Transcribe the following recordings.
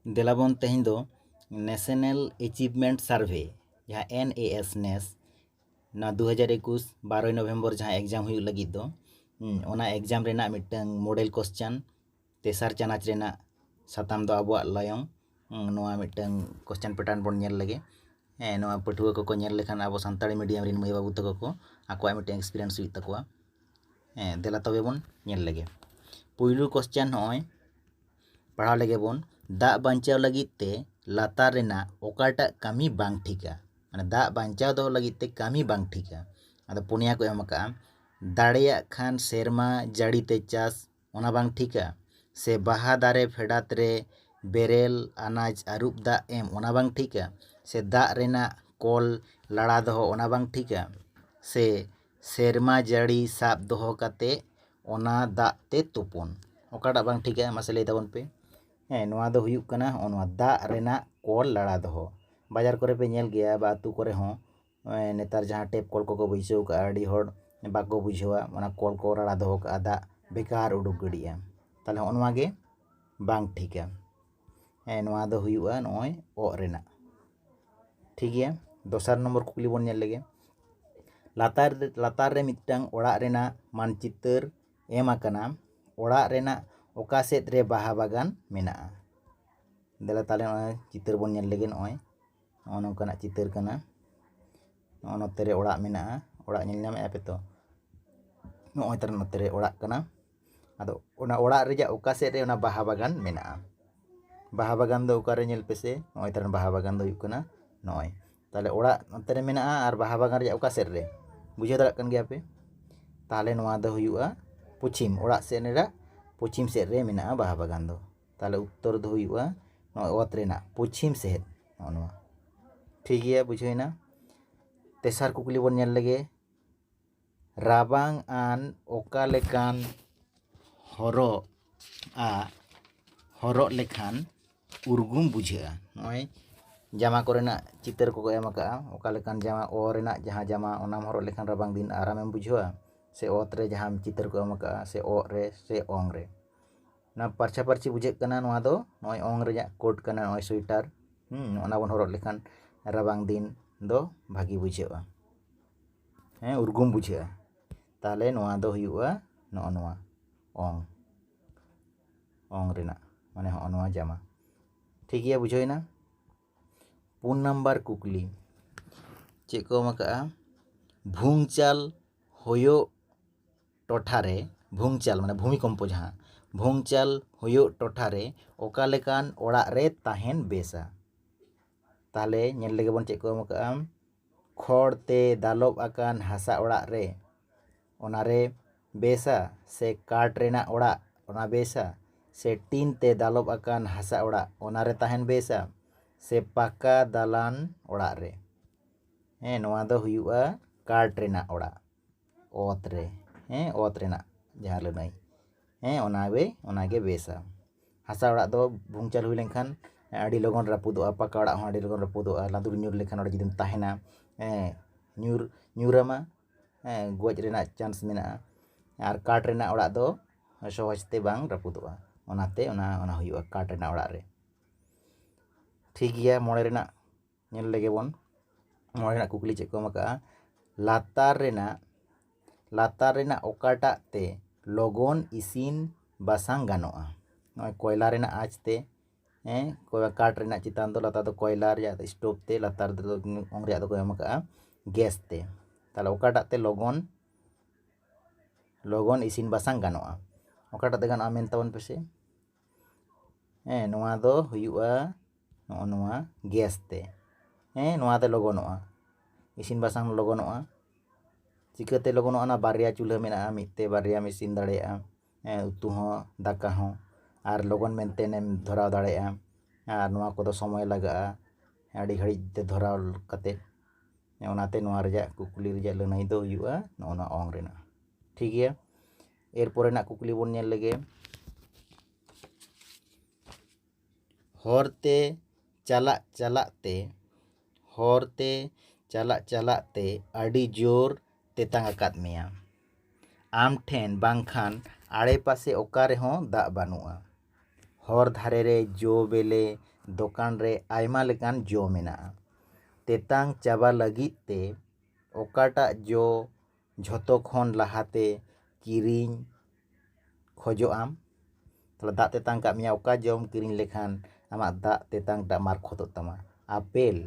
ᱫᱮᱞᱟᱵᱚᱱ ᱛᱮᱦᱮᱧ ᱫᱚ ᱱᱮᱥᱮᱱᱮᱞ ᱮᱪᱤᱵᱷᱢᱮᱱᱴ ᱥᱟᱨᱵᱷᱮ ᱡᱟᱦᱟᱸ ᱮᱱ ᱮ ᱮᱥ ᱱᱮᱥ ᱱᱚᱣᱟ ᱫᱩ ᱦᱟᱡᱟᱨ ᱮᱠᱩᱥ ᱵᱟᱨᱚᱭ ᱱᱚᱵᱷᱮᱢᱵᱚᱨ ᱡᱟᱦᱟᱸ ᱮᱠᱡᱟᱢ ᱦᱩᱭᱩᱜ ᱞᱟᱹᱜᱤᱫ ᱫᱚ ᱚᱱᱟ ᱮᱠᱡᱟᱢ ᱨᱮᱱᱟᱜ ᱢᱤᱫᱴᱟᱹᱝ ᱢᱳᱰᱮᱞ ᱠᱚᱥᱪᱟᱱ ᱛᱮᱥᱟᱨ ᱪᱟᱱᱟᱪ ᱨᱮᱱᱟᱜ ᱥᱟᱛᱟᱢ ᱫᱚ ᱟᱵᱚᱣᱟᱜ ᱞᱟᱭᱚᱝ ᱱᱚᱣᱟ ᱢᱤᱫᱴᱟᱹᱝ ᱠᱚᱥᱪᱟᱱ ᱯᱮᱴᱟᱨᱱ ᱵᱚᱱ ᱧᱮᱞ ᱞᱮᱜᱮ ᱦᱮᱸ ᱱᱚᱣᱟ ᱯᱟᱹᱴᱷᱩᱣᱟᱹ ᱠᱚᱠᱚ ᱧᱮᱞ ᱞᱮᱠᱷᱟᱱ ᱟᱵᱚ ᱥᱟᱱᱛᱟᱲᱤ ᱢᱤᱰᱤᱭᱟᱢ ᱨᱮᱱ ᱢᱟᱹᱭ ᱵᱟᱹᱵᱩ ᱛᱟᱠᱚ ᱠᱚ ᱟᱠᱚᱣᱟᱜ ᱢᱤᱫᱴᱟᱹᱝ ᱮᱠᱥᱯᱨᱤᱭᱮᱱᱥ ᱦᱩᱭᱩᱜ ᱛᱟᱠᱚᱣᱟ ᱦᱮᱸ ᱫᱮᱞᱟ ᱛᱚᱵᱮ ᱵᱚᱱ ᱧᱮᱞ ᱞᱮᱜᱮ ᱯᱩᱭᱞᱩ ᱠᱚᱥᱪᱟᱱ ᱱᱚᱜᱼᱚᱭ ᱯᱟᱲᱦᱟᱣ ᱞᱮᱜᱮ ᱵᱚᱱ ᱫᱟᱜ ᱵᱟᱧᱪᱟᱣ ᱞᱟᱹᱜᱤᱫ ᱛᱮ ᱞᱟᱛᱟᱨ ᱨᱮᱱᱟᱜ ᱚᱠᱟᱴᱟᱜ ᱠᱟᱹᱢᱤ ᱵᱟᱝ ᱴᱷᱤᱠᱟ ᱢᱟᱱᱮ ᱫᱟᱜ ᱵᱟᱧᱪᱟᱣ ᱫᱚᱦᱚ ᱞᱟᱹᱜᱤᱫ ᱛᱮ ᱠᱟᱹᱢᱤ ᱵᱟᱝ ᱴᱷᱤᱠᱟ ᱟᱫᱚ ᱯᱩᱱᱭᱟ ᱠᱚ ᱮᱢ ᱠᱟᱜᱼᱟ ᱫᱟᱲᱮᱭᱟᱜ ᱠᱷᱟᱱ ᱥᱮᱨᱢᱟ ᱡᱟᱹᱲᱤ ᱛᱮ ᱪᱟᱥ ᱚᱱᱟ ᱵᱟᱝ ᱴᱷᱤᱠᱟ ᱥᱮ ᱵᱟᱦᱟ ᱫᱟᱨᱮ ᱯᱷᱮᱰᱟᱛ ᱨᱮ ᱵᱮᱨᱮᱞ ᱟᱱᱟᱡᱽ ᱟᱹᱨᱩᱵ ᱫᱟᱜ ᱮᱢ ᱚᱱᱟ ᱵᱟᱝ ᱴᱷᱤᱠᱟ ᱥᱮ ᱫᱟᱜ ᱨᱮᱱᱟᱜ ᱠᱚᱞ ᱞᱟᱲᱟ ᱫᱚᱦᱚ ᱚᱱᱟ ᱵᱟᱝ ᱴᱷᱤᱠᱟ ᱥᱮ ᱥᱮᱨᱢᱟ ᱡᱟᱹᱲᱤ ᱥᱟᱵ ᱫᱚᱦᱚ ᱠᱟᱛᱮ ᱚᱱᱟ ᱫᱟᱜ ᱛᱮ ᱛᱩᱯᱩᱱ ᱚᱠᱟᱴᱟᱜ ᱵᱟᱝ ᱴᱷᱤᱠᱟ ᱢᱟᱥᱮ ᱞᱟᱹᱭ ᱛᱟᱵᱚᱱ ᱯᱮ ᱦᱮᱸ ᱱᱚᱣᱟ ᱫᱚ ᱦᱩᱭᱩᱜ ᱠᱟᱱᱟ ᱦᱚᱸᱜᱼᱚ ᱱᱚᱣᱟ ᱫᱟᱜ ᱨᱮᱱᱟᱜ ᱠᱚᱞ ᱞᱟᱲᱟ ᱫᱚᱦᱚ ᱵᱟᱡᱟᱨ ᱠᱚᱨᱮ ᱯᱮ ᱧᱮᱞ ᱜᱮᱭᱟ ᱵᱟ ᱟᱹᱛᱩ ᱠᱚᱨᱮ ᱦᱚᱸ ᱱᱮᱛᱟᱨ ᱡᱟᱦᱟᱸ ᱴᱮᱯ ᱠᱚᱞ ᱠᱚᱠᱚ ᱵᱟᱹᱭᱥᱟᱹᱣ ᱠᱟᱜᱼᱟ ᱟᱹᱰᱤ ᱦᱚᱲ ᱵᱟᱠᱚ ᱵᱩᱡᱷᱟᱹᱣᱟ ᱚᱱᱟ ᱠᱚᱞ ᱠᱚ ᱞᱟᱲᱟ ᱫᱚᱦᱚ ᱠᱟᱜᱼᱟ ᱫᱟᱜ ᱵᱮᱠᱟᱨ ᱩᱰᱩᱠ ᱜᱤᱰᱤᱜᱼᱟ ᱛᱟᱦᱚᱞᱮ ᱦᱚᱸᱜᱼᱚ ᱱᱚᱣᱟᱜᱮ ᱵᱟᱝ ᱴᱷᱤᱠᱟ ᱦᱮᱸ ᱱᱚᱣᱟ ᱫᱚ ᱦᱩᱭᱩᱜᱼᱟ ᱱᱚᱜᱼᱚᱭ ᱚᱜ ᱨᱮᱱᱟᱜ ᱴᱷᱤᱠ ᱜᱮᱭᱟ ᱫᱚᱥᱟᱨ ᱱᱚᱢᱵᱚᱨ ᱠᱩᱠᱞᱤ ᱵᱚᱱ ᱧᱮᱞ ᱞᱮᱜᱮ ᱞᱟᱛᱟᱨ ᱞᱟᱛᱟᱨ ᱨᱮ ᱢᱤᱫᱴᱟᱝ ᱚᱲᱟᱜ ᱨᱮᱱᱟᱜ ᱢᱟᱱᱪᱤᱛᱟᱹᱨ ᱮᱢ ᱟᱠᱟᱱᱟ ᱚᱲᱟᱜ ᱨᱮᱱᱟᱜ ᱚᱠᱟ ᱥᱮᱫ ᱨᱮ ᱵᱟᱦᱟ ᱵᱟᱜᱟᱱ ᱢᱮᱱᱟᱜᱼᱟ ᱫᱮᱞᱟ ᱛᱟᱦᱚᱞᱮ ᱱᱚᱜᱼᱚᱭ ᱪᱤᱛᱟᱹᱨ ᱵᱚᱱ ᱧᱮᱞ ᱞᱮᱜᱮ ᱱᱚᱜᱼᱚᱭ ᱱᱚᱜᱼᱚ ᱱᱚᱝᱠᱟᱱᱟᱜ ᱪᱤᱛᱟᱹᱨ ᱠᱟᱱᱟ ᱱᱚᱜᱼᱚ ᱱᱚᱛᱮ ᱨᱮ ᱚᱲᱟᱜ ᱢᱮᱱᱟᱜᱼᱟ ᱚᱲᱟᱜ ᱧᱮᱞ ᱧᱟᱢᱮᱫᱼᱟ ᱯᱮ ᱛᱚ ᱱᱚᱜᱼᱚᱭ ᱛᱟᱨ ᱱᱚᱛᱮ ᱨᱮ ᱚᱲᱟᱜ ᱠᱟᱱᱟ ᱟᱫᱚ ᱚᱱᱟ ᱚᱲᱟᱜ ᱨᱮᱭᱟᱜ ᱚᱠᱟ ᱥᱮᱫ ᱨᱮ ᱚᱱᱟ ᱵᱟᱦᱟ ᱵᱟᱜᱟᱱ ᱢᱮᱱᱟᱜᱼᱟ ᱵᱟᱦᱟ ᱵᱟᱜᱟᱱ ᱫᱚ ᱚᱠᱟᱨᱮ ᱧᱮᱞ ᱯᱮᱥᱮ ᱱᱚᱜᱼᱚᱭ ᱛᱟᱞᱟᱝ ᱵᱟᱦᱟ ᱵᱟᱜᱟᱱ ᱫᱚ ᱦᱩᱭᱩᱜ ᱠᱟᱱᱟ ᱱᱚᱜᱼᱚᱭ ᱛᱟᱦᱚᱞᱮ ᱚᱲᱟᱜ ᱱᱚᱛᱮ ᱨᱮ ᱢᱮᱱᱟᱜᱼᱟ ᱟᱨ ᱵᱟᱦᱟ ᱵᱟᱜᱟᱱ ᱨᱮᱭᱟᱜ ᱚᱠᱟ ᱥᱮᱫ ᱨᱮ ᱵᱩᱡᱷᱟᱹᱣ ᱫᱟᱲᱮᱭᱟᱜ ᱠᱟᱱ ᱜᱮᱭᱟᱯᱮ ᱛᱟᱦᱚᱞᱮ ᱱᱚᱣᱟ ᱫᱚ ᱦᱩᱭᱩᱜᱼᱟ ᱯᱚᱪᱷᱤᱢ ᱚᱲᱟᱜ ᱥᱮᱫ ᱨᱮᱱᱟᱜ ᱯᱚᱪᱷᱤᱢ ᱥᱮᱫ ᱨᱮ ᱢᱮᱱᱟᱜᱼᱟ ᱵᱟᱦᱟ ᱵᱟᱜᱟᱱ ᱫᱚ ᱛᱟᱦᱚᱞᱮ ᱩᱛᱛᱚᱨ ᱫᱚ ᱦᱩᱭᱩᱜᱼᱟ ᱱᱚᱜᱼᱚᱭ ᱚᱛ ᱨᱮᱱᱟᱜ ᱯᱚᱪᱷᱤᱢ ᱥᱮᱫ ᱱᱚᱜᱼᱚ ᱱᱚᱣᱟ ᱴᱷᱤᱠ ᱜᱮᱭᱟ ᱵᱩᱡᱷᱟᱹᱣᱮᱱᱟ ᱛᱮᱥᱟᱨ ᱠᱩᱠᱞᱤ ᱵᱚᱱ ᱧᱮᱞ ᱞᱮᱜᱮ ᱨᱟᱵᱟᱝ ᱟᱱ ᱚᱠᱟ ᱞᱮᱠᱟᱱ ᱦᱚᱨᱚᱜ ᱟᱜ ᱦᱚᱨᱚᱜ ᱞᱮᱠᱷᱟᱱ ᱩᱨᱜᱩᱢ ᱵᱩᱡᱷᱟᱹᱜᱼᱟ ᱱᱚᱜᱼᱚᱭ ᱡᱟᱢᱟ ᱠᱚᱨᱮᱱᱟᱜ ᱪᱤᱛᱟᱹᱨ ᱠᱚᱠᱚ ᱮᱢ ᱟᱠᱟᱫᱼᱟ ᱚᱠᱟ ᱞᱮᱠᱟᱱ ᱡᱟᱢᱟ ᱚ ᱨᱮᱱᱟᱜ ᱡᱟᱦᱟᱸ ᱡᱟᱢᱟ ᱚᱱᱟᱢ ᱦᱚᱨᱚᱜ ᱞᱮᱠᱷᱟᱱ ᱨᱟᱵᱟᱝ ᱫᱤᱱ ᱟᱨᱟᱢᱮᱢ ᱵᱩᱡᱷᱟᱹᱣᱟ ᱥᱮ ᱚᱛ ᱨᱮ ᱡᱟᱦᱟᱸ ᱪᱤᱛᱟᱹᱨ ᱠᱚ ᱮᱢ ᱟᱠᱟᱫᱼᱟ ᱥᱮ ᱚᱜ ᱨᱮ ᱥᱮ ᱚᱝ ᱨᱮ ᱚᱱᱟ ᱯᱟᱨᱪᱷᱟ ᱯᱟᱨᱪᱷᱤ ᱵᱩᱡᱷᱟᱹᱜ ᱠᱟᱱᱟ ᱱᱚᱣᱟ ᱫᱚ ᱱᱚᱜᱼᱚᱭ ᱚᱝ ᱨᱮᱭᱟᱜ ᱠᱳᱴ ᱠᱟᱱᱟ ᱱᱚᱜᱼᱚᱭ ᱥᱳᱭᱮᱴᱟᱨ ᱚᱱᱟ ᱵᱚᱱ ᱦᱚᱨᱚᱜ ᱞᱮᱠᱷᱟᱱ ᱨᱟᱵᱟᱝ ᱫᱤᱱ ᱫᱚ ᱵᱷᱟᱹᱜᱤ ᱵᱩᱡᱷᱟᱹᱜᱼᱟ ᱦᱮᱸ ᱩᱨᱜᱩᱢ ᱵᱩᱡᱷᱟᱹᱜᱼᱟ ᱛᱟᱦᱚᱞᱮ ᱱᱚᱣᱟ ᱫᱚ ᱦᱩᱭᱩᱜᱼᱟ ᱱᱚᱜᱼᱚ ᱱᱚᱣᱟ ᱚᱝ ᱚᱝ ᱨᱮᱱᱟᱜ ᱢᱟᱱᱮ ᱦᱚᱸᱜᱼᱚ ᱱᱚᱣᱟ ᱡᱟᱢᱟ ᱴᱷᱤᱠ ᱜᱮᱭᱟ ᱵᱩᱡᱷᱟᱹᱣᱮᱱᱟ ᱯᱩᱱ ᱱᱟᱢᱵᱟᱨ ᱠᱩᱠᱞᱤ ᱪᱮᱫ ᱠᱚ ᱮᱢ ᱟᱠᱟᱜᱼᱟ ᱵᱷᱩᱝᱪᱟᱞ ᱦᱩᱭᱩᱜ ᱴᱚᱴᱷᱟᱨᱮ ᱵᱷᱩᱝᱪᱟᱞ ᱢᱟᱱᱮ ᱵᱷᱩᱢᱤᱠᱚᱢᱯᱚ ᱡᱟᱦᱟᱸ ᱵᱷᱩᱝᱪᱟᱞ ᱦᱩᱭᱩᱜ ᱴᱚᱴᱷᱟᱨᱮ ᱚᱠᱟ ᱞᱮᱠᱟᱱ ᱚᱲᱟᱜ ᱨᱮ ᱛᱟᱦᱮᱱ ᱵᱮᱥᱟ ᱛᱟᱦᱚᱞᱮ ᱧᱮᱞ ᱞᱮᱜᱮ ᱵᱚᱱ ᱪᱮᱫ ᱠᱚ ᱮᱢ ᱠᱟᱜᱼᱟ ᱠᱷᱚᱲ ᱛᱮ ᱫᱟᱞᱚᱵ ᱟᱠᱟᱱ ᱦᱟᱥᱟ ᱚᱲᱟᱜ ᱨᱮ ᱚᱱᱟᱨᱮ ᱵᱮᱥᱟ ᱥᱮ ᱠᱟᱴ ᱨᱮᱱᱟᱜ ᱚᱲᱟᱜ ᱚᱱᱟ ᱵᱮᱥᱟ ᱥᱮ ᱴᱤᱱ ᱛᱮ ᱫᱟᱞᱚᱵ ᱟᱠᱟᱱ ᱦᱟᱥᱟ ᱚᱲᱟᱜ ᱚᱱᱟᱨᱮ ᱛᱟᱦᱮᱱ ᱵᱮᱥᱟ ᱥᱮ ᱯᱟᱠᱟ ᱫᱟᱞᱟᱱ ᱚᱲᱟᱜ ᱨᱮ ᱦᱮᱸ ᱱᱚᱣᱟ ᱫᱚ ᱦᱩᱭᱩᱜᱼᱟ ᱠᱟᱴ ᱨᱮᱱᱟᱜ ᱚᱲᱟᱜ ᱚᱛ ᱨᱮ ᱦᱮᱸ ᱚᱛ ᱨᱮᱱᱟᱜ ᱡᱟᱦᱟᱸ ᱞᱟᱹᱱᱟᱹᱭ ᱦᱮᱸ ᱚᱱᱟᱜᱮ ᱚᱱᱟᱜᱮ ᱵᱮᱥᱟ ᱦᱟᱥᱟ ᱚᱲᱟᱜ ᱫᱚ ᱵᱷᱩᱝᱪᱟᱞ ᱦᱩᱭ ᱞᱮᱱᱠᱷᱟᱱ ᱟᱹᱰᱤ ᱞᱚᱜᱚᱱ ᱨᱟᱹᱯᱩᱫᱚᱜᱼᱟ ᱯᱟᱠᱟ ᱚᱲᱟᱜ ᱦᱚᱸ ᱟᱹᱰᱤ ᱞᱚᱜᱚᱱ ᱨᱟᱹᱯᱩᱫᱚᱜᱼᱟ ᱞᱟᱸᱫᱩᱲ ᱧᱩᱨ ᱞᱮᱱᱠᱷᱟᱱ ᱚᱸᱰᱮ ᱡᱩᱫᱤᱢ ᱛᱟᱦᱮᱱᱟ ᱦᱮᱸ ᱧᱩᱨ ᱧᱩᱨ ᱟᱢᱟ ᱦᱮᱸ ᱜᱚᱡ ᱨᱮᱱᱟᱜ ᱪᱟᱱᱥ ᱢᱮᱱᱟᱜᱼᱟ ᱟᱨ ᱠᱟᱴ ᱨᱮᱱᱟᱜ ᱚᱲᱟᱜ ᱫᱚ ᱥᱚᱦᱚᱡᱽ ᱛᱮ ᱵᱟᱝ ᱨᱟᱹᱯᱩᱫᱚᱜᱼᱟ ᱚᱱᱟᱛᱮ ᱚᱱᱟ ᱚᱱᱟ ᱦᱩᱭᱩᱜᱼᱟ ᱠᱟᱴ ᱨᱮᱱᱟᱜ ᱚᱲᱟᱜ ᱨᱮ ᱴᱷᱤᱠ ᱜᱮᱭᱟ ᱢᱚᱬᱮ ᱨᱮᱱᱟᱜ ᱧᱮᱞ ᱞᱮᱜᱮ ᱵᱚᱱ ᱱᱚᱣᱟ ᱨᱮᱱᱟᱜ ᱠᱩᱠᱞᱤ ᱪᱮᱫ ᱠᱚ ᱮᱢ ᱟᱠᱟᱫᱼᱟ ᱞᱟᱛᱟᱨ ᱨᱮᱱᱟᱜ ᱞᱟᱛᱟᱨ ᱨᱮᱱᱟᱜ ᱚᱠᱟᱴᱟᱜ ᱛᱮ ᱞᱚᱜᱚᱱ ᱤᱥᱤᱱ ᱵᱟᱥᱟᱝ ᱜᱟᱱᱚᱜᱼᱟ ᱱᱚᱜᱼᱚᱭ ᱠᱚᱭᱞᱟ ᱨᱮᱱᱟᱜ ᱟᱸᱪ ᱛᱮ ᱦᱮᱸ ᱠᱟᱴ ᱨᱮᱱᱟᱜ ᱪᱮᱛᱟᱱ ᱫᱚ ᱞᱟᱛᱟᱨ ᱫᱚ ᱠᱚᱭᱞᱟ ᱨᱮᱭᱟᱜ ᱥᱴᱳᱵᱷ ᱛᱮ ᱞᱟᱛᱟᱨ ᱫᱚ ᱚᱝ ᱨᱮᱭᱟᱜ ᱫᱚᱠᱚ ᱮᱢ ᱟᱠᱟᱫᱼᱟ ᱜᱮᱥ ᱛᱮ ᱛᱟᱦᱚᱞᱮ ᱚᱠᱟᱴᱟᱜ ᱛᱮ ᱞᱚᱜᱚᱱ ᱞᱚᱜᱚᱱ ᱤᱥᱤᱱ ᱵᱟᱥᱟᱝ ᱜᱟᱱᱚᱜᱼᱟ ᱚᱠᱟᱴᱟᱜ ᱛᱮ ᱜᱟᱱᱚᱜᱼᱟ ᱢᱮᱱ ᱛᱟᱵᱚᱱ ᱯᱮᱥᱮ ᱦᱮᱸ ᱱᱚᱣᱟ ᱫᱚ ᱦᱩᱭᱩᱜᱼᱟ ᱱᱚᱜᱼᱚ ᱱᱚᱣᱟ ᱜᱮᱥ ᱛᱮ ᱦᱮᱸ ᱱᱚᱣᱟᱛᱮ ᱞᱚᱜᱚᱱᱚᱜᱼᱟ ᱤᱥᱤᱱ ᱵᱟᱥᱟᱝ ᱞᱚᱜᱚᱱᱚᱜᱼᱟ ᱪᱤᱠᱟᱹᱛᱮ ᱞᱚᱜᱚᱱᱚᱜᱼᱟ ᱚᱱᱟ ᱵᱟᱨᱭᱟ ᱪᱩᱞᱦᱟᱹ ᱢᱮᱱᱟᱜᱼᱟ ᱢᱤᱫ ᱛᱮ ᱵᱟᱨᱭᱟᱢ ᱤᱥᱤᱱ ᱫᱟᱲᱮᱭᱟᱜᱼᱟ ᱦᱮᱸ ᱩᱛᱩ ᱦᱚᱸ ᱫᱟᱠᱟ ᱦᱚᱸ ᱟᱨ ᱞᱚᱜᱚᱱ ᱢᱮᱱᱛᱮ ᱮᱢ ᱫᱷᱚᱨᱟᱣ ᱫᱟᱲᱮᱭᱟᱜᱼᱟ ᱟᱨ ᱱᱚᱣᱟ ᱠᱚᱫᱚ ᱥᱚᱢᱚᱭ ᱞᱟᱜᱟᱜᱼᱟ ᱟᱹᱰᱤ ᱜᱷᱟᱹᱲᱤᱡ ᱛᱮ ᱫᱷᱚᱨᱟᱣ ᱠᱟᱛᱮ ᱚᱱᱟᱛᱮ ᱱᱚᱣᱟ ᱨᱮᱭᱟᱜ ᱠᱩᱠᱞᱤ ᱨᱮᱭᱟᱜ ᱞᱟᱹᱱᱟᱹᱭ ᱫᱚ ᱦᱩᱭᱩᱜᱼᱟ ᱱᱚᱜᱼᱚ ᱱᱚᱣᱟ ᱚᱝ ᱨᱮᱱᱟᱜ ᱴᱷᱤᱠ ᱜᱮᱭᱟ ᱮᱨ ᱯᱚᱨᱮᱱᱟᱜ ᱠᱩᱠᱞᱤ ᱵᱚᱱ ᱧᱮᱞ ᱞᱮᱜᱮ ᱦᱚᱨᱛᱮ ᱪᱟᱞᱟᱜ ᱪᱟᱞᱟᱜ ᱛᱮ ᱦᱚᱨᱛᱮ ᱪᱟᱞᱟᱜ ᱪᱟᱞᱟᱜ ᱛᱮ ᱟᱹᱰᱤ ᱡᱳᱨ ᱛᱮᱛᱟᱝ ᱟᱠᱟᱫ ᱢᱮᱭᱟ ᱟᱢ ᱴᱷᱮᱱ ᱵᱟᱝᱠᱷᱟᱱ ᱟᱲᱮ ᱯᱟᱥᱮ ᱚᱠᱟ ᱨᱮᱦᱚᱸ ᱫᱟᱜ ᱵᱟᱹᱱᱩᱜᱼᱟ ᱦᱚᱨ ᱫᱷᱟᱨᱮ ᱨᱮ ᱡᱚ ᱵᱮᱞᱮ ᱫᱚᱠᱟᱱ ᱨᱮ ᱟᱭᱢᱟ ᱞᱮᱠᱟᱱ ᱡᱚ ᱢᱮᱱᱟᱜᱼᱟ ᱛᱮᱛᱟᱝ ᱪᱟᱵᱟ ᱞᱟᱹᱜᱤᱫ ᱛᱮ ᱚᱠᱟᱴᱟᱜ ᱡᱚ ᱡᱷᱚᱛᱚ ᱠᱷᱚᱱ ᱞᱟᱦᱟᱛᱮ ᱠᱤᱨᱤᱧ ᱠᱷᱚᱡᱚᱜ ᱟᱢ ᱛᱟᱦᱚᱞᱮ ᱫᱟᱜ ᱛᱮᱛᱟᱝ ᱠᱟᱜ ᱢᱮᱭᱟ ᱚᱠᱟ ᱡᱚᱢ ᱠᱤᱨᱤᱧ ᱞᱮᱠᱷᱟᱱ ᱟᱢᱟᱜ ᱫᱟᱜ ᱛᱮᱛᱟᱝ ᱴᱟᱜ ᱢᱟᱨᱠᱷᱚᱛᱚᱜ ᱛᱟᱢᱟ ᱟᱯᱮᱞ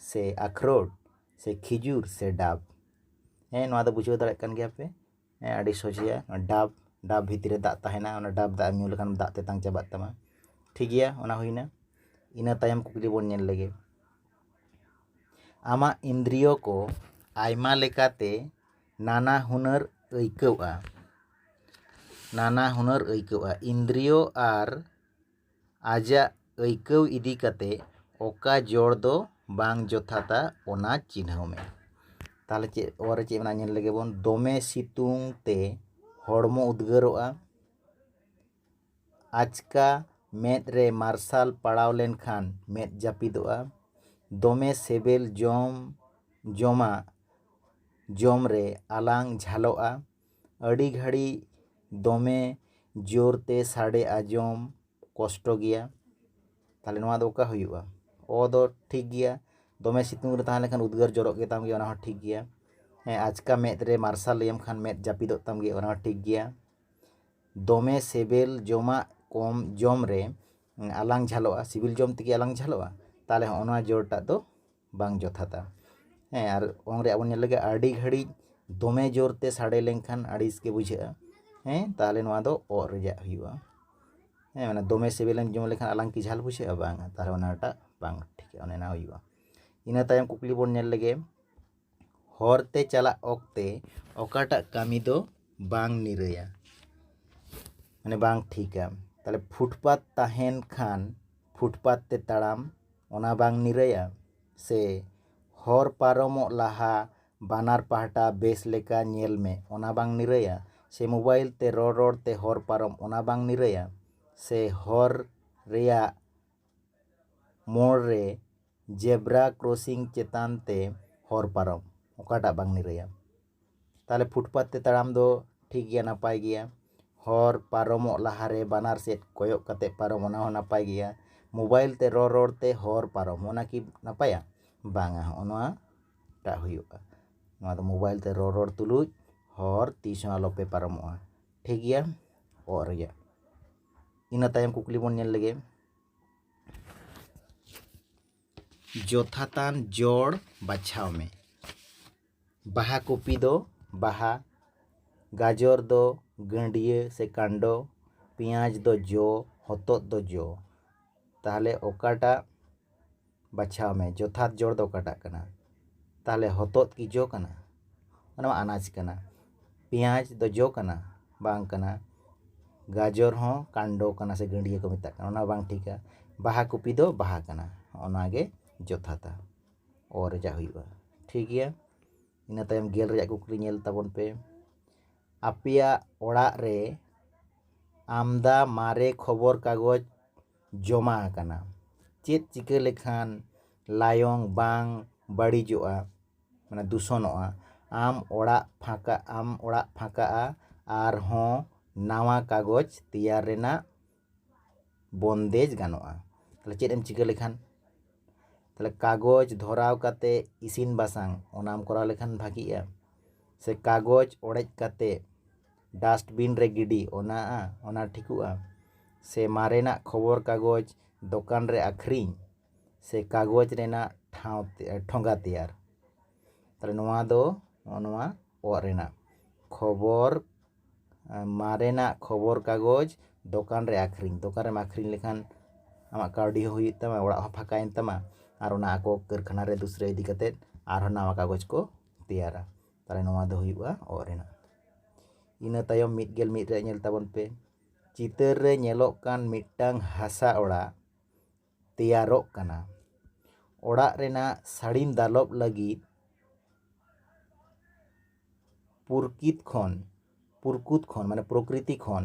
ᱥᱮ ᱟᱠᱷᱨᱚᱴ ᱥᱮ ᱠᱷᱤᱡᱩᱨ ᱥᱮ ᱰᱟᱵ ᱦᱮᱸ ᱱᱚᱣᱟ ᱫᱚ ᱵᱩᱡᱷᱟᱹᱣ ᱫᱟᱲᱮᱭᱟᱜ ᱠᱟᱱ ᱜᱮᱭᱟᱯᱮ ᱦᱮᱸ ᱟᱹᱰᱤ ᱥᱚᱡᱷᱮ ᱜᱮᱭᱟ ᱰᱟᱵ ᱰᱟᱵ ᱵᱷᱤᱛᱤᱨ ᱨᱮ ᱫᱟᱜ ᱛᱟᱦᱮᱱᱟ ᱚᱱᱟ ᱰᱟᱵ ᱫᱟᱜ ᱮᱢ ᱧᱩ ᱞᱮᱠᱷᱟᱱ ᱫᱟᱜ ᱛᱮᱛᱟᱝ ᱪᱟᱵᱟᱜ ᱛᱟᱢᱟ ᱴᱷᱤᱠ ᱜᱮᱭᱟ ᱚᱱᱟ ᱦᱩᱭᱱᱟ ᱤᱱᱟᱹ ᱛᱟᱭᱚᱢ ᱠᱩᱠᱞᱤ ᱵᱚᱱ ᱧᱮᱞ ᱞᱮᱜᱮ ᱟᱢᱟᱜ ᱤᱱᱫᱨᱤᱭᱚ ᱠᱚ ᱟᱭᱢᱟ ᱞᱮᱠᱟᱛᱮ ᱱᱟᱱᱟ ᱦᱩᱱᱟᱹᱨ ᱟᱹᱭᱠᱟᱹᱣᱜᱼᱟ ᱱᱟᱱᱟ ᱦᱩᱱᱟᱹᱨ ᱟᱹᱭᱠᱟᱹᱣᱜᱼᱟ ᱤᱱᱫᱨᱤᱭᱚ ᱟᱨ ᱟᱡᱟᱜ ᱟᱹᱭᱠᱟᱹᱣ ᱤᱫᱤ ᱠᱟᱛᱮ ᱚᱠᱟ ᱡᱚᱲ ᱫᱚ ᱵᱟᱝ ᱡᱚᱛᱷᱟᱛᱟ ᱚᱱᱟ ᱪᱤᱱᱦᱟᱹᱣ ᱢᱮ ᱛᱟᱦᱚᱞᱮ ᱪᱮᱫ ᱚᱞ ᱨᱮ ᱪᱮᱫ ᱢᱮᱱᱟᱜᱼᱟ ᱧᱮᱞ ᱞᱮᱜᱮ ᱵᱚᱱ ᱫᱚᱢᱮ ᱥᱤᱛᱩᱝ ᱛᱮ ᱦᱚᱲᱢᱚ ᱩᱫᱽᱜᱟᱹᱨᱚᱜᱼᱟ ᱟᱪᱠᱟ ᱢᱮᱫ ᱨᱮ ᱢᱟᱨᱥᱟᱞ ᱯᱟᱲᱟᱣ ᱞᱮᱱᱠᱷᱟᱱ ᱢᱮᱫ ᱡᱟᱹᱯᱤᱫᱚᱜᱼᱟ ᱫᱚᱢᱮ ᱥᱤᱵᱤᱞ ᱡᱚᱢ ᱡᱚᱢᱟᱜ ᱡᱚᱢ ᱨᱮ ᱟᱞᱟᱝ ᱡᱷᱟᱞᱚᱜᱼᱟ ᱟᱹᱰᱤ ᱜᱷᱟᱹᱲᱤᱡ ᱫᱚᱢᱮ ᱡᱳᱨ ᱛᱮ ᱥᱟᱰᱮ ᱟᱸᱡᱚᱢ ᱠᱚᱥᱴᱚ ᱜᱮᱭᱟ ᱛᱟᱦᱚᱞᱮ ᱱᱚᱣᱟ ᱫᱚ ᱚᱠᱟ ᱦᱩᱭᱩᱜᱼᱟ ᱚ ᱫᱚ ᱴᱷᱤᱠ ᱜᱮᱭᱟ ᱫᱚᱢᱮ ᱥᱤᱛᱩᱝ ᱨᱮ ᱛᱟᱦᱮᱸ ᱞᱮᱱᱠᱷᱟᱱ ᱩᱫᱽᱜᱟᱹᱨ ᱡᱚᱨᱚᱜ ᱜᱮᱛᱟᱢ ᱜᱮᱭᱟ ᱚᱱᱟᱦᱚᱸ ᱴᱷᱤᱠ ᱜᱮᱭᱟ ᱦᱮᱸ ᱟᱪᱠᱟ ᱢᱮᱫ ᱨᱮ ᱢᱟᱨᱥᱟᱞ ᱞᱟᱹᱭᱟᱢ ᱠᱷᱟᱱ ᱢᱮᱫ ᱡᱟᱹᱯᱤᱫᱚᱜ ᱛᱟᱢ ᱜᱮᱭᱟ ᱚᱱᱟᱦᱚᱸ ᱴᱷᱤᱠ ᱜᱮᱭᱟ ᱫᱚᱢᱮ ᱥᱮᱵᱮᱞ ᱡᱚᱢᱟᱜ ᱠᱚᱢ ᱡᱚᱢ ᱨᱮ ᱟᱞᱟᱝ ᱡᱷᱟᱞᱚᱜᱼᱟ ᱥᱤᱵᱤᱞ ᱡᱚᱢ ᱛᱮᱜᱮ ᱟᱞᱟᱝ ᱡᱷᱟᱞᱚᱜᱼᱟ ᱛᱟᱦᱚᱞᱮ ᱦᱚᱸᱜᱼᱚ ᱱᱚᱣᱟ ᱡᱚᱲ ᱴᱟᱜ ᱫᱚ ᱵᱟᱝ ᱡᱚᱛᱷᱟᱛᱟ ᱦᱮᱸ ᱟᱨ ᱚᱝ ᱨᱮᱭᱟᱜ ᱵᱚᱱ ᱧᱮᱞ ᱞᱮᱜᱮ ᱟᱹᱰᱤ ᱜᱷᱟᱹᱲᱤᱡ ᱫᱚᱢᱮ ᱡᱳᱨ ᱛᱮ ᱥᱟᱰᱮ ᱞᱮᱱᱠᱷᱟᱱ ᱟᱹᱲᱤᱥ ᱜᱮ ᱵᱩᱡᱷᱟᱹᱜᱼᱟ ᱦᱮᱸ ᱛᱟᱦᱚᱞᱮ ᱱᱚᱣᱟ ᱫᱚ ᱚᱜ ᱨᱮᱭᱟᱜ ᱦᱩᱭᱩᱜᱼᱟ ᱦᱮᱸ ᱢᱟᱱᱮ ᱫᱚᱢᱮ ᱥᱮᱵᱮᱞᱮᱢ ᱡᱚᱢ ᱞᱮᱠᱷᱟᱱ ᱟᱞᱟᱝ ᱠᱤ ᱡᱷᱟᱞ ᱵᱩᱡᱷᱟᱹᱜᱼᱟ ᱵᱟᱝ ᱛᱟᱦᱚᱞᱮ ᱚᱱᱟᱴᱟᱜ ᱵᱟᱝ ᱴᱷᱤᱠᱟ ᱚᱱᱮ ᱚᱱᱟ ᱦᱩᱭᱩᱜᱼᱟ ᱤᱱᱟᱹ ᱛᱟᱭᱚᱢ ᱠᱩᱠᱞᱤ ᱵᱚᱱ ᱧᱮᱞ ᱞᱮᱜᱮ ᱦᱚᱨ ᱛᱮ ᱪᱟᱞᱟᱜ ᱚᱠᱛᱮ ᱚᱠᱟᱴᱟᱜ ᱠᱟᱹᱢᱤ ᱫᱚ ᱵᱟᱝ ᱱᱤᱨᱟᱹᱭᱟ ᱢᱟᱱᱮ ᱵᱟᱝ ᱴᱷᱤᱠᱟ ᱛᱟᱦᱚᱞᱮ ᱯᱷᱩᱴᱯᱟᱛ ᱛᱟᱦᱮᱱ ᱠᱷᱟᱱ ᱯᱷᱩᱴᱯᱟᱛ ᱛᱮ ᱛᱟᱲᱟᱢ ᱚᱱᱟ ᱵᱟᱝ ᱱᱤᱨᱟᱹᱭᱟ ᱥᱮ ᱦᱚᱨ ᱯᱟᱨᱚᱢᱚᱜ ᱞᱟᱦᱟ ᱵᱟᱱᱟᱨ ᱯᱟᱦᱴᱟ ᱵᱮᱥ ᱞᱮᱠᱟ ᱧᱮᱞ ᱢᱮ ᱚᱱᱟ ᱵᱟᱝ ᱱᱤᱨᱟᱹᱭᱟ ᱥᱮ ᱢᱳᱵᱟᱭᱤᱞ ᱛᱮ ᱨᱚᱲ ᱨᱚᱲ ᱛᱮ ᱦᱚᱨ ᱯᱟᱨᱚᱢ ᱚᱱᱟ ᱵᱟᱝ ᱱᱤᱨᱟᱹᱭᱟ ᱥᱮ ᱦᱚᱨ ᱨᱮᱭᱟᱜ ᱢᱳᱲ ᱨᱮ ᱡᱮᱵᱽᱨᱟ ᱠᱨᱚᱥᱤᱝ ᱪᱮᱛᱟᱱ ᱛᱮ ᱦᱚᱨ ᱯᱟᱨᱚᱢ ᱚᱠᱟᱴᱟᱜ ᱵᱟᱝ ᱱᱤᱨᱟᱹᱭᱟ ᱛᱟᱦᱚᱞᱮ ᱯᱷᱩᱴᱯᱟᱛ ᱛᱮ ᱛᱟᱲᱟᱢ ᱫᱚ ᱴᱷᱤᱠ ᱜᱮᱭᱟ ᱱᱟᱯᱟᱭ ᱜᱮᱭᱟ ᱦᱚᱨ ᱯᱟᱨᱚᱢᱚᱜ ᱞᱟᱦᱟᱨᱮ ᱵᱟᱱᱟᱨ ᱥᱮᱫ ᱠᱚᱭᱚᱜ ᱠᱟᱛᱮ ᱯᱟᱨᱚᱢ ᱚᱱᱟ ᱦᱚᱸ ᱱᱟᱯᱟᱭ ᱜᱮᱭᱟ ᱢᱳᱵᱟᱭᱤᱞ ᱛᱮ ᱨᱚᱲ ᱨᱚᱲ ᱛᱮ ᱦᱚᱨ ᱯᱟᱨᱚᱢ ᱚᱱᱟ ᱠᱤ ᱱᱟᱯᱟᱭᱟ ᱵᱟᱝᱟ ᱦᱚᱸᱜᱼᱚ ᱱᱚᱣᱟ ᱴᱟᱜ ᱦᱩᱭᱩᱜᱼᱟ ᱱᱚᱣᱟ ᱫᱚ ᱢᱳᱵᱟᱭᱤᱞ ᱛᱮ ᱨᱚᱲ ᱨᱚᱲ ᱛᱩᱞᱩᱡ ᱦᱚᱨ ᱛᱤᱥ ᱦᱚᱸ ᱟᱞᱚᱯᱮ ᱯᱟᱨᱚᱢᱚᱜᱼᱟ ᱴᱷᱤᱠ ᱜᱮᱭᱟ ᱚᱜ ᱨᱮᱭᱟᱜ ᱤᱱᱟᱹ ᱛᱟᱭᱚᱢ ᱠᱩᱠᱞᱤ ᱵᱚᱱ ᱧᱮᱞ ᱞᱮᱜᱮ ᱡᱚᱛᱷᱟᱛᱟᱱ ᱡᱚᱲ ᱵᱟᱪᱷᱟᱣ ᱢᱮ ᱵᱟᱦᱟ ᱠᱚᱯᱤ ᱫᱚ ᱵᱟᱦᱟ ᱜᱟᱡᱚᱨ ᱫᱚ ᱜᱟᱹᱰᱭᱟᱹ ᱥᱮ ᱠᱟᱱᱰᱚ ᱯᱮᱸᱭᱟᱡᱽ ᱫᱚ ᱡᱚ ᱦᱚᱛᱚᱫ ᱫᱚ ᱡᱚ ᱛᱟᱦᱚᱞᱮ ᱚᱠᱟᱴᱟᱜ ᱵᱟᱪᱷᱟᱣ ᱢᱮ ᱡᱚᱛᱷᱟᱛ ᱡᱚᱲ ᱫᱚ ᱚᱠᱟᱴᱟᱜ ᱠᱟᱱᱟ ᱛᱟᱦᱚᱞᱮ ᱦᱚᱛᱚᱫ ᱠᱤ ᱡᱚ ᱠᱟᱱᱟ ᱚᱱᱟ ᱢᱟ ᱟᱱᱟᱡᱽ ᱠᱟᱱᱟ ᱯᱮᱸᱭᱟᱡᱽ ᱫᱚ ᱡᱚ ᱠᱟᱱᱟ ᱵᱟᱝ ᱠᱟᱱᱟ ᱜᱟᱡᱚᱨ ᱦᱚᱸ ᱠᱟᱱᱰᱚ ᱠᱟᱱᱟ ᱥᱮ ᱜᱟᱹᱰᱭᱟᱹ ᱠᱚ ᱢᱮᱛᱟᱜ ᱠᱟᱱᱟ ᱚᱱᱟ ᱦᱚᱸ ᱵᱟᱝ ᱴᱷᱤᱠᱟ ᱵᱟᱦᱟ ᱠᱚᱯᱤ ᱫᱚ ᱵᱟᱦᱟ ᱠᱟᱱᱟ ᱦᱚᱸᱜᱼᱚ ᱱᱚᱣᱟ ᱜᱮ ᱡᱚᱛᱷᱟᱛᱟ ᱚ ᱨᱮᱭᱟᱜ ᱦᱩᱭᱩᱜᱼᱟ ᱴᱷᱤᱠ ᱜᱮᱭᱟ ᱤᱱᱟᱹ ᱛᱟᱭᱚᱢ ᱜᱮᱞ ᱨᱮᱭᱟᱜ ᱠᱩᱠᱞᱤ ᱧᱮᱞ ᱛᱟᱵᱚᱱ ᱯᱮ ᱟᱯᱮᱭᱟᱜ ᱚᱲᱟᱜ ᱨᱮ ᱟᱢᱫᱟ ᱢᱟᱨᱮ ᱠᱷᱚᱵᱚᱨ ᱠᱟᱜᱚᱡᱽ ᱡᱚᱢᱟ ᱟᱠᱟᱱᱟ ᱪᱮᱫ ᱪᱤᱠᱟᱹ ᱞᱮᱠᱷᱟᱱ ᱞᱟᱭᱚᱝ ᱵᱟᱝ ᱵᱟᱹᱲᱤᱡᱚᱜᱼᱟ ᱢᱟᱱᱮ ᱫᱩᱥᱚᱱᱚᱜᱼᱟ ᱟᱢ ᱚᱲᱟᱜ ᱯᱷᱟᱸᱠᱟ ᱟᱢ ᱚᱲᱟᱜ ᱯᱷᱟᱸᱠᱟᱜᱼᱟ ᱟᱨᱦᱚᱸ ᱱᱟᱣᱟ ᱠᱟᱜᱚᱡᱽ ᱛᱮᱭᱟᱨ ᱨᱮᱱᱟᱜ ᱵᱚᱱᱫᱮᱡᱽ ᱜᱟᱱᱚᱜᱼᱟ ᱛᱟᱦᱚᱞᱮ ᱪᱮᱫ ᱮᱢ ᱪᱤᱠᱟᱹ ᱞᱮᱠᱷᱟᱱ ᱛᱟᱦᱚᱞᱮ ᱠᱟᱜᱚᱡᱽ ᱫᱷᱚᱨᱟᱣ ᱠᱟᱛᱮ ᱤᱥᱤᱱ ᱵᱟᱥᱟᱝ ᱚᱱᱟᱢ ᱠᱚᱨᱟᱣ ᱞᱮᱠᱷᱟᱱ ᱵᱷᱟᱜᱮᱜᱼᱟ ᱥᱮ ᱠᱟᱜᱚᱡᱽ ᱚᱲᱮᱡ ᱠᱟᱛᱮ ᱰᱟᱥᱴᱵᱤᱱ ᱨᱮ ᱜᱤᱰᱤ ᱚᱱᱟᱜᱼᱟ ᱚᱱᱟ ᱴᱷᱤᱠᱚᱜᱼᱟ ᱥᱮ ᱢᱟᱨᱮᱱᱟᱜ ᱠᱷᱚᱵᱚᱨ ᱠᱟᱜᱚᱡᱽ ᱫᱚᱠᱟᱱ ᱨᱮ ᱟᱹᱠᱷᱨᱤᱧ ᱥᱮ ᱠᱟᱜᱚᱡᱽ ᱨᱮᱱᱟᱜ ᱴᱷᱟᱶ ᱴᱷᱚᱸᱜᱟ ᱛᱮᱭᱟᱨ ᱛᱟᱦᱚᱞᱮ ᱱᱚᱣᱟ ᱫᱚ ᱱᱚᱜᱼᱚ ᱱᱚᱣᱟ ᱚᱜ ᱨᱮᱱᱟᱜ ᱠᱷᱚᱵᱚᱨ ᱢᱟᱨᱮᱱᱟᱜ ᱠᱷᱚᱵᱚᱨ ᱠᱟᱜᱚᱡᱽ ᱫᱚᱠᱟᱱ ᱨᱮ ᱟᱹᱠᱷᱨᱤᱧ ᱫᱚᱠᱟᱱ ᱨᱮᱢ ᱟᱹᱠᱷᱨᱤᱧ ᱞᱮᱠᱷᱟᱱ ᱟᱢᱟᱜ ᱠᱟᱹᱣᱰᱤ ᱦᱚᱸ ᱦᱩᱭᱩᱜ ᱛᱟᱢᱟ ᱚᱲᱟᱜ ᱦᱚᱸ ᱯᱷᱟᱸᱠᱟᱭᱮᱱ ᱛᱟᱢᱟ ᱟᱨ ᱚᱱᱟ ᱟᱠᱚ ᱠᱟᱹᱨᱠᱷᱟᱱᱟ ᱨᱮ ᱫᱩᱥᱨᱟᱹ ᱤᱫᱤ ᱠᱟᱛᱮᱫ ᱟᱨᱦᱚᱸ ᱱᱟᱣᱟ ᱠᱟᱜᱚᱡᱽ ᱠᱚ ᱛᱮᱭᱟᱨᱟ ᱛᱟᱦᱚᱞᱮ ᱱᱚᱣᱟ ᱫᱚ ᱦᱩᱭᱩᱜᱼᱟ ᱚᱜ ᱨᱮᱱᱟᱜ ᱤᱱᱟᱹ ᱛᱟᱭᱚᱢ ᱢᱤᱫ ᱜᱮᱞ ᱢᱤᱫ ᱨᱮᱭᱟᱜ ᱧᱮᱞ ᱛᱟᱵᱚᱱ ᱯᱮ ᱪᱤᱛᱟᱹᱨ ᱨᱮ ᱧᱮᱞᱚᱜ ᱠᱟᱱ ᱢᱤᱫᱴᱟᱝ ᱦᱟᱥᱟ ᱚᱲᱟᱜ ᱛᱮᱭᱟᱨᱚᱜ ᱠᱟᱱᱟ ᱚᱲᱟᱜ ᱨᱮᱱᱟᱜ ᱥᱟᱹᱲᱤᱢ ᱫᱟᱞᱚᱵ ᱞᱟᱹᱜᱤᱫ ᱯᱩᱨᱠᱤᱛ ᱠᱷᱚᱱ ᱯᱩᱨᱠᱩᱛ ᱠᱷᱚᱱ ᱢᱟᱱᱮ ᱯᱨᱚᱠᱨᱤᱛᱤ ᱠᱷᱚᱱ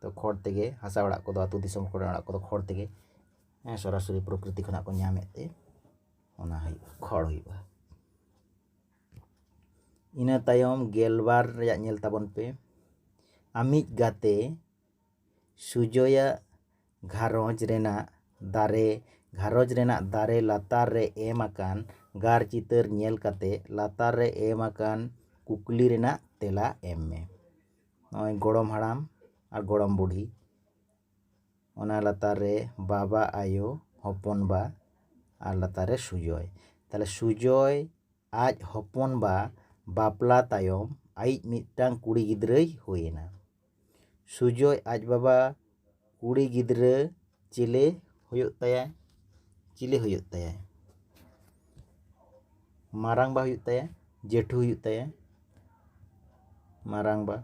ᱛᱚ ᱠᱷᱚᱲ ᱛᱮᱜᱮ ᱦᱟᱥᱟ ᱚᱲᱟᱜ ᱠᱚᱫᱚ ᱟᱹᱛᱩ ᱫᱤᱥᱚᱢ ᱠᱚᱨᱮ ᱚᱲᱟᱜ ᱠᱚᱫᱚ ᱠᱷᱚᱲ ᱛᱮᱜᱮ ᱦᱮᱸ ᱥᱚᱨᱟᱥᱚᱨᱤ ᱯᱨᱚᱠᱨᱤᱛᱤ ᱠᱷᱚᱱᱟᱜ ᱠᱚ ᱧᱟᱢᱮᱫ ᱛᱮ ᱚᱱᱟ ᱦᱩᱭᱩᱜᱼᱟ ᱠᱷᱚᱲ ᱦᱩᱭᱩᱜᱼᱟ ᱤᱱᱟᱹ ᱛᱟᱭᱚᱢ ᱜᱮᱞᱵᱟᱨ ᱨᱮᱭᱟᱜ ᱧᱮᱞ ᱛᱟᱵᱚᱱ ᱯᱮ ᱟᱢᱤᱡ ᱜᱟᱛᱮ ᱥᱩᱡᱚᱭᱟᱜ ᱜᱷᱟᱨᱚᱸᱡᱽ ᱨᱮᱱᱟᱜ ᱫᱟᱨᱮ ᱜᱷᱟᱨᱚᱸᱡᱽ ᱨᱮᱱᱟᱜ ᱫᱟᱨᱮ ᱞᱟᱛᱟᱨ ᱨᱮ ᱮᱢ ᱟᱠᱟᱱ ᱜᱟᱨ ᱪᱤᱛᱟᱹᱨ ᱧᱮᱞ ᱠᱟᱛᱮ ᱞᱟᱛᱟᱨ ᱨᱮ ᱮᱢ ᱟᱠᱟᱱ ᱠᱩᱠᱞᱤ ᱨᱮᱱᱟᱜ ᱛᱮᱞᱟ ᱮᱢ ᱢᱮ ᱱᱚᱜᱼᱚᱭ ᱜᱚᱲᱚᱢ ᱦᱟᱲᱟᱢ ᱟᱨ ᱜᱚᱲᱚᱢ ᱵᱩᱰᱷᱤ ᱚᱱᱟ ᱞᱟᱛᱟᱨ ᱨᱮ ᱵᱟᱵᱟ ᱟᱭᱳ ᱦᱚᱯᱚᱱ ᱵᱟ ᱟᱨ ᱞᱟᱛᱟᱨ ᱨᱮ ᱥᱩᱡᱚᱭ ᱛᱟᱦᱚᱞᱮ ᱥᱩᱡᱚᱭ ᱟᱡ ᱦᱚᱯᱚᱱ ᱵᱟ ᱵᱟᱯᱞᱟ ᱛᱟᱭᱚᱢ ᱟᱭᱤᱡ ᱢᱤᱫᱴᱟᱝ ᱠᱩᱲᱤ ᱜᱤᱫᱽᱨᱟᱹᱭ ᱦᱩᱭᱮᱱᱟ ᱥᱩᱡᱚᱭ ᱟᱡ ᱵᱟᱵᱟ ᱠᱩᱲᱤ ᱜᱤᱫᱽᱨᱟᱹ ᱪᱮᱞᱮ ᱦᱩᱭᱩᱜ ᱛᱟᱭᱟ ᱪᱤᱞᱤ ᱦᱩᱭᱩᱜ ᱛᱟᱭᱟ ᱢᱟᱨᱟᱝᱵᱟ ᱦᱩᱭᱩᱜ ᱛᱟᱭᱟ ᱡᱮᱴᱷᱩ ᱦᱩᱭᱩᱜ ᱛᱟᱭᱟ ᱢᱟᱨᱟᱝᱵᱟ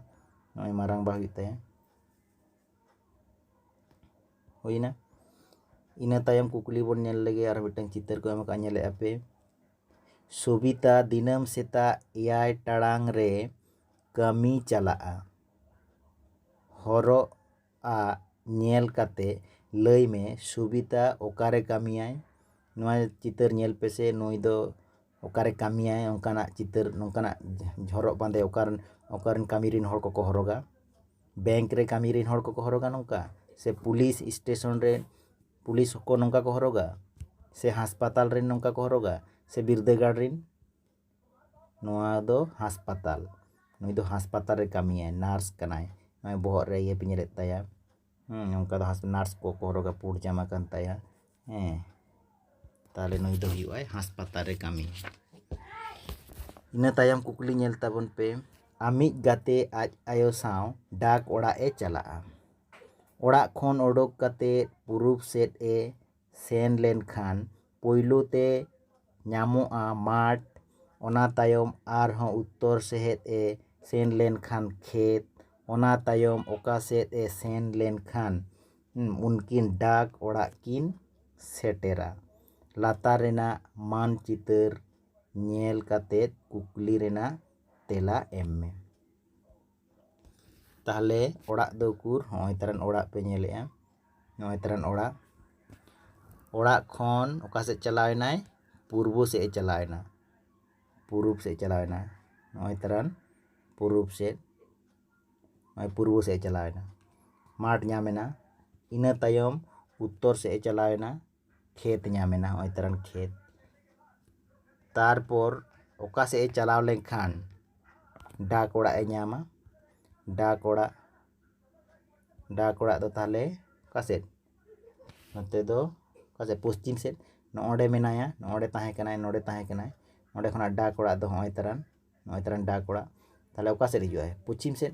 ᱱᱚᱜᱼᱚᱭ ᱢᱟᱨᱟᱝᱵᱟ ᱦᱩᱭᱩᱜ ᱛᱟᱭᱟ ᱦᱩᱭᱱᱟ ᱤᱱᱟᱹ ᱛᱟᱭᱚᱢ ᱠᱩᱠᱞᱤ ᱵᱚᱱ ᱧᱮᱞ ᱞᱮᱜᱮ ᱟᱨ ᱢᱤᱫᱴᱟᱝ ᱪᱤᱛᱟᱹᱨ ᱠᱚ ᱮᱢ ᱟᱠᱟᱫ ᱧᱮᱞᱮᱫᱼᱟ ᱯᱮ ᱥᱩᱵᱤᱛᱟ ᱫᱤᱱᱟᱹᱢ ᱥᱮᱛᱟᱜ ᱮᱭᱟᱭ ᱴᱟᱲᱟᱝ ᱨᱮ ᱠᱟᱹᱢᱤ ᱪᱟᱞᱟᱜᱼᱟ ᱦᱚᱨᱚᱜ ᱟᱜ ᱧᱮᱞ ᱠᱟᱛᱮ ᱞᱟᱹᱭ ᱢᱮ ᱥᱩᱵᱤᱛᱟ ᱚᱠᱟᱨᱮ ᱠᱟᱹᱢᱤᱭᱟᱭ ᱱᱚᱣᱟ ᱪᱤᱛᱟᱹᱨ ᱧᱮᱞ ᱯᱮᱥᱮ ᱱᱩᱭ ᱫᱚ ᱚᱠᱟᱨᱮ ᱠᱟᱹᱢᱤᱭᱟᱭ ᱚᱱᱠᱟᱱᱟᱜ ᱪᱤᱛᱟᱹᱨ ᱱᱚᱝᱠᱟᱱᱟᱜ ᱦᱚᱨᱚᱜ ᱵᱟᱸᱫᱮ ᱚᱠᱟᱨᱮ ᱚᱠᱟᱨᱮᱱ ᱠᱟᱹᱢᱤ ᱨᱮᱱ ᱦᱚᱲ ᱠᱚᱠᱚ ᱦᱚᱨᱚᱜᱟ ᱵᱮᱝᱠ ᱨᱮ ᱠᱟᱹᱢᱤ ᱨᱮᱱ ᱦᱚᱲ ᱠᱚᱠᱚ ᱦᱚᱨᱚᱜᱟ ᱱᱚᱝᱠᱟ ᱥᱮ ᱯᱩᱞᱤᱥ ᱥᱴᱮᱥᱚᱱ ᱨᱮ ᱯᱩᱞᱤᱥ ᱠᱚ ᱱᱚᱝᱠᱟ ᱠᱚ ᱦᱚᱨᱚᱜᱟ ᱥᱮ ᱦᱟᱥᱯᱟᱛᱟᱞ ᱨᱮ ᱱᱚᱝᱠᱟ ᱠᱚ ᱦᱚᱨᱚᱜᱟ ᱥᱮ ᱵᱤᱨᱫᱟᱹᱜᱟᱲ ᱨᱮᱱ ᱱᱚᱣᱟ ᱫᱚ ᱦᱟᱥᱯᱟᱛᱟᱞ ᱱᱩᱭ ᱫᱚ ᱦᱟᱥᱯᱟᱛᱟᱞ ᱨᱮ ᱠᱟᱹᱢᱤᱭᱟᱭ ᱱᱟᱨᱥ ᱠᱟᱱᱟᱭ ᱱᱚᱜᱼᱚᱭ ᱵᱚᱦᱚᱜ ᱨᱮ ᱤᱭᱟᱹ ᱯᱤᱧᱡᱽᱨᱮᱫ ᱛᱟᱭᱟ ᱦᱮᱸ ᱱᱚᱝᱠᱟ ᱫᱚ ᱱᱟᱨᱥ ᱠᱚᱠᱚ ᱦᱚᱨᱚᱜᱟ ᱯᱩᱸᱰ ᱡᱟᱢᱟ ᱠᱟᱱ ᱛᱟᱭᱟ ᱦᱮᱸ ᱛᱟᱦᱚᱞᱮ ᱱᱩᱭ ᱫᱚ ᱦᱩᱭᱩᱜ ᱟᱭ ᱦᱟᱥᱯᱟᱛᱟᱞ ᱨᱮ ᱠᱟᱹᱢᱤ ᱤᱱᱟᱹ ᱛᱟᱭᱚᱢ ᱠᱩᱠᱞᱤ ᱧᱮᱞ ᱛᱟᱵᱚᱱ ᱯᱮ ᱟᱢᱤᱡ ᱜᱟᱛᱮ ᱟᱡ ᱟᱭᱳ ᱥᱟᱶ ᱰᱟᱠ ᱚᱲᱟᱜ ᱮ ᱪᱟᱞᱟᱜᱼᱟ ᱚᱲᱟᱜ ᱠᱷᱚᱱ ᱚᱰᱚᱠ ᱠᱟᱛᱮ ᱯᱩᱨᱩᱵ ᱥᱮᱫ ᱮ ᱥᱮᱱ ᱞᱮᱱᱠᱷᱟᱱ ᱯᱳᱭᱞᱳ ᱛᱮ ᱧᱟᱢᱚᱜᱼᱟ ᱢᱟᱴᱷ ᱚᱱᱟ ᱛᱟᱭᱚᱢ ᱟᱨᱦᱚᱸ ᱩᱛᱛᱚᱨ ᱥᱮᱫ ᱮ ᱥᱮᱱ ᱞᱮᱱᱠᱷᱟᱱ ᱠᱷᱮᱛ ᱚᱱᱟ ᱛᱟᱭᱚᱢ ᱚᱠᱟ ᱥᱮᱫ ᱮ ᱥᱮᱱ ᱞᱮᱱᱠᱷᱟᱱ ᱩᱱᱠᱤᱱ ᱰᱟᱠ ᱚᱲᱟᱜ ᱠᱤᱱ ᱥᱮᱴᱮᱨᱟ ᱞᱟᱛᱟᱨ ᱨᱮᱱᱟᱜ ᱢᱟᱱ ᱪᱤᱛᱟᱹᱨ ᱧᱮᱞ ᱠᱟᱛᱮᱫ ᱠᱩᱠᱞᱤ ᱨᱮᱱᱟᱜ ᱛᱮᱞᱟ ᱮᱢ ᱢᱮ ᱛᱟᱦᱚᱞᱮ ᱚᱲᱟᱜ ᱫᱚ ᱩᱠᱩᱨ ᱦᱚᱸᱜᱼᱚᱭ ᱛᱟᱨᱟᱱ ᱚᱲᱟᱜ ᱯᱮ ᱧᱮᱞᱮᱫᱼᱟ ᱱᱚᱜᱼᱚᱭ ᱛᱟᱨᱟᱱ ᱚᱲᱟᱜ ᱚᱲᱟᱜ ᱠᱷᱚᱱ ᱚᱠᱟ ᱥᱮᱫ ᱪᱟᱞᱟᱣ ᱮᱱᱟᱭ ᱯᱩᱨᱵᱚ ᱥᱮᱫ ᱮ ᱪᱟᱞᱟᱣ ᱮᱱᱟ ᱯᱩᱨᱩᱵ ᱥᱮᱫ ᱪᱟᱞᱟᱣ ᱮᱱᱟ ᱱᱚᱜᱼᱚᱭ ᱛᱟᱨᱟᱱ ᱯᱩᱨᱩᱵ ᱥᱮᱫ ᱱᱚᱜᱼᱚᱭ ᱯᱩᱨᱵᱚ ᱥᱮᱫ ᱮ ᱪᱟᱞᱟᱣ ᱮᱱᱟ ᱢᱟᱴᱷ ᱧᱟᱢ ᱮᱱᱟ ᱤᱱᱟᱹ ᱛᱟᱭᱚᱢ ᱩᱛᱛᱚᱨ ᱥᱮᱫ ᱮ ᱪᱟᱞᱟᱣ ᱮᱱᱟ ᱠᱷᱮᱛ ᱧᱟᱢ ᱮᱱᱟ ᱱᱚᱜᱼᱚᱭ ᱛᱟᱨᱟᱱ ᱠᱷᱮᱛ ᱛᱟᱨᱯᱚᱨ ᱚᱠᱟ ᱥᱮᱫ ᱮ ᱪᱟᱞᱟᱣ ᱞᱮᱱᱠᱷᱟᱱ ᱰᱟᱠ ᱚᱲᱟᱜ ᱮ ᱧᱟᱢᱟ ᱰᱟᱠ ᱚᱲᱟᱜ ᱰᱟᱠ ᱚᱲᱟᱜ ᱫᱚ ᱛᱟᱦᱚᱞᱮ ᱚᱠᱟ ᱥᱮᱫ ᱱᱚᱛᱮ ᱫᱚ ᱚᱠᱟ ᱥᱮᱫ ᱯᱚᱥᱪᱤᱢ ᱥᱮᱫ ᱱᱚᱜᱼᱚᱸᱰᱮ ᱢᱮᱱᱟᱭᱟ ᱱᱚᱜᱼᱚᱸᱰᱮ ᱛᱟᱦᱮᱸ ᱠᱟᱱᱟᱭ ᱱᱚᱸᱰᱮ ᱛᱟᱦᱮᱸ ᱠᱟᱱᱟᱭ ᱚᱸᱰᱮ ᱠᱷᱚᱱᱟᱜ ᱰᱟᱠ ᱚᱲᱟᱜ ᱫᱚ ᱱᱚᱜᱼᱚᱭ ᱛᱟᱨᱟᱱ ᱱᱚᱜᱼᱚᱭ ᱛᱟᱨᱟᱱ ᱰᱟᱠ ᱚᱲᱟᱜ ᱛᱟᱦᱚᱞᱮ ᱚᱠᱟ ᱥᱮᱫ ᱦᱤᱡᱩᱜᱼᱟᱭ ᱯᱚᱪᱷᱤᱢ ᱥᱮᱫ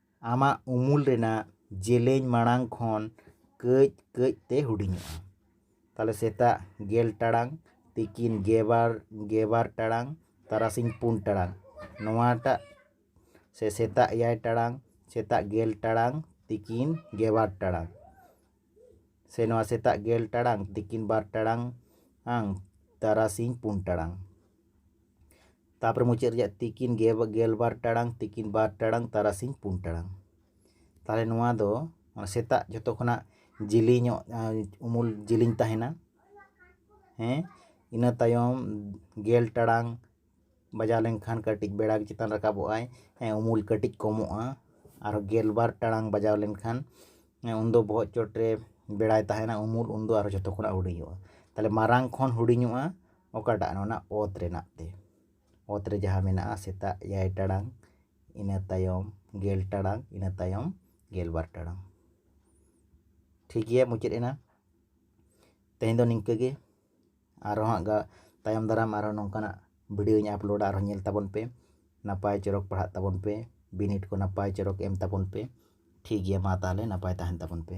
ᱟᱢᱟᱜ ᱩᱢᱩᱞ ᱨᱮᱱᱟᱜ ᱡᱮᱞᱮᱧ ᱢᱟᱲᱟᱝ ᱠᱷᱚᱱ ᱠᱟᱹᱡ ᱠᱟᱹᱡ ᱛᱮ ᱦᱩᱰᱤᱧᱚᱜᱼᱟ ᱛᱟᱦᱚᱞᱮ ᱥᱮᱛᱟᱜ ᱜᱮᱞ ᱴᱟᱲᱟᱝ ᱛᱤᱠᱤᱱ ᱜᱮᱵᱟᱨ ᱜᱮᱵᱟᱨ ᱴᱟᱲᱟᱝ ᱛᱟᱨᱟᱥᱤᱧ ᱯᱩᱱ ᱴᱟᱲᱟᱝ ᱱᱚᱣᱟᱴᱟᱜ ᱥᱮ ᱥᱮᱛᱟᱜ ᱮᱭᱟᱭ ᱴᱟᱲᱟᱝ ᱥᱮᱛᱟᱜ ᱜᱮᱞ ᱴᱟᱲᱟᱝ ᱛᱤᱠᱤᱱ ᱜᱮᱵᱟᱨ ᱴᱟᱲᱟᱝ ᱥᱮ ᱱᱚᱣᱟ ᱥᱮᱛᱟᱜ ᱜᱮᱞ ᱴᱟᱲᱟᱝ ᱛᱤᱠᱤᱱ ᱵᱟᱨ ᱴᱟᱲᱟᱝ ᱟᱝ ᱛᱟᱨᱟᱥᱤᱧ ᱯᱩᱱ ᱴᱟᱲᱟᱝ ᱛᱟᱯᱚᱨᱮ ᱢᱩᱪᱟᱹᱫ ᱨᱮᱭᱟᱜ ᱛᱤᱠᱤᱱ ᱜᱮᱞ ᱵᱟᱨ ᱴᱟᱲᱟᱝ ᱛᱤᱠᱤᱱ ᱵᱟᱨ ᱴᱟᱲᱟᱝ ᱛᱟᱨᱟᱥᱤᱧ ᱯᱩᱱ ᱴᱟᱲᱟᱝ ᱛᱟᱦᱚᱞᱮ ᱱᱚᱣᱟ ᱫᱚ ᱥᱮᱛᱟᱜ ᱡᱷᱚᱛᱚ ᱠᱷᱚᱱᱟᱜ ᱡᱤᱞᱤᱧᱚᱜ ᱩᱢᱩᱞ ᱡᱤᱞᱤᱧ ᱛᱟᱦᱮᱱᱟ ᱦᱮᱸ ᱤᱱᱟᱹ ᱛᱟᱭᱚᱢ ᱜᱮᱞ ᱴᱟᱲᱟᱝ ᱵᱟᱡᱟᱣ ᱞᱮᱱᱠᱷᱟᱱ ᱠᱟᱹᱴᱤᱡ ᱵᱮᱲᱟ ᱜᱮ ᱪᱮᱛᱟᱱ ᱨᱟᱠᱟᱵᱚᱜᱼᱟᱭ ᱩᱢᱩᱞ ᱠᱟᱹᱴᱤᱡ ᱠᱚᱢᱚᱜᱼᱟ ᱟᱨ ᱜᱮᱞᱵᱟᱨ ᱴᱟᱲᱟᱝ ᱵᱟᱡᱟᱣ ᱞᱮᱱᱠᱷᱟᱱ ᱩᱱᱫᱚ ᱵᱚᱦᱚᱜ ᱪᱚᱴ ᱨᱮ ᱵᱮᱲᱟᱭ ᱛᱟᱦᱮᱱᱟ ᱩᱢᱩᱞ ᱩᱱᱫᱚ ᱟᱨᱚ ᱡᱚᱛᱚ ᱠᱷᱚᱱᱟᱜ ᱦᱩᱰᱤᱧᱚᱜᱼᱟ ᱛᱟᱦᱚᱞᱮ ᱢᱟᱨᱟᱝ ᱠᱷᱚᱱ ᱦᱩᱰᱤᱧᱚᱜᱼᱟ ᱚᱠᱟᱴᱟᱜ ᱚᱱᱟ ᱚᱛ ᱨᱮᱱᱟᱜ ᱛᱮ ᱚᱛ ᱨᱮ ᱡᱟᱦᱟᱸ ᱢᱮᱱᱟᱜᱼᱟ ᱥᱮᱛᱟᱜ ᱮᱭᱟᱭ ᱴᱟᱲᱟᱝ ᱤᱱᱟᱹ ᱛᱟᱭᱚᱢ ᱜᱮᱞ ᱴᱟᱲᱟᱝ ᱤᱱᱟᱹ ᱛᱟᱭᱚᱢ ᱜᱮᱞᱵᱟᱨ ᱴᱟᱲᱟᱝ ᱴᱷᱤᱠ ᱜᱮᱭᱟ ᱢᱩᱪᱟᱹᱫ ᱮᱱᱟ ᱛᱮᱦᱮᱧ ᱫᱚ ᱱᱤᱝᱠᱟᱹ ᱜᱮ ᱟᱨᱚ ᱦᱟᱸᱜ ᱛᱟᱭᱚᱢ ᱫᱟᱨᱟᱢ ᱟᱨᱚ ᱱᱚᱝᱠᱟᱱᱟᱜ ᱵᱷᱤᱰᱭᱳᱧ ᱟᱯᱞᱳᱰᱟ ᱟᱨᱦᱚᱸ ᱧᱮᱞ ᱛᱟᱵᱚᱱ ᱯᱮ ᱱᱟᱯᱟᱭ ᱪᱚᱨᱚᱠ ᱯᱟᱲᱦᱟᱜ ᱛᱟᱵᱚᱱ ᱯᱮ ᱵᱤᱱᱤᱰ ᱠᱚ ᱱᱟᱯᱟᱭ ᱪᱚᱨᱚᱠ ᱮᱢ ᱛᱟᱵᱚᱱ ᱯᱮ ᱴᱷᱤᱠ ᱜᱮᱭᱟ ᱢᱟ ᱛᱟᱦᱚᱞᱮ ᱱᱟᱯᱟᱭ ᱛᱟᱦᱮᱱ ᱛᱟᱵᱚᱱ ᱯᱮ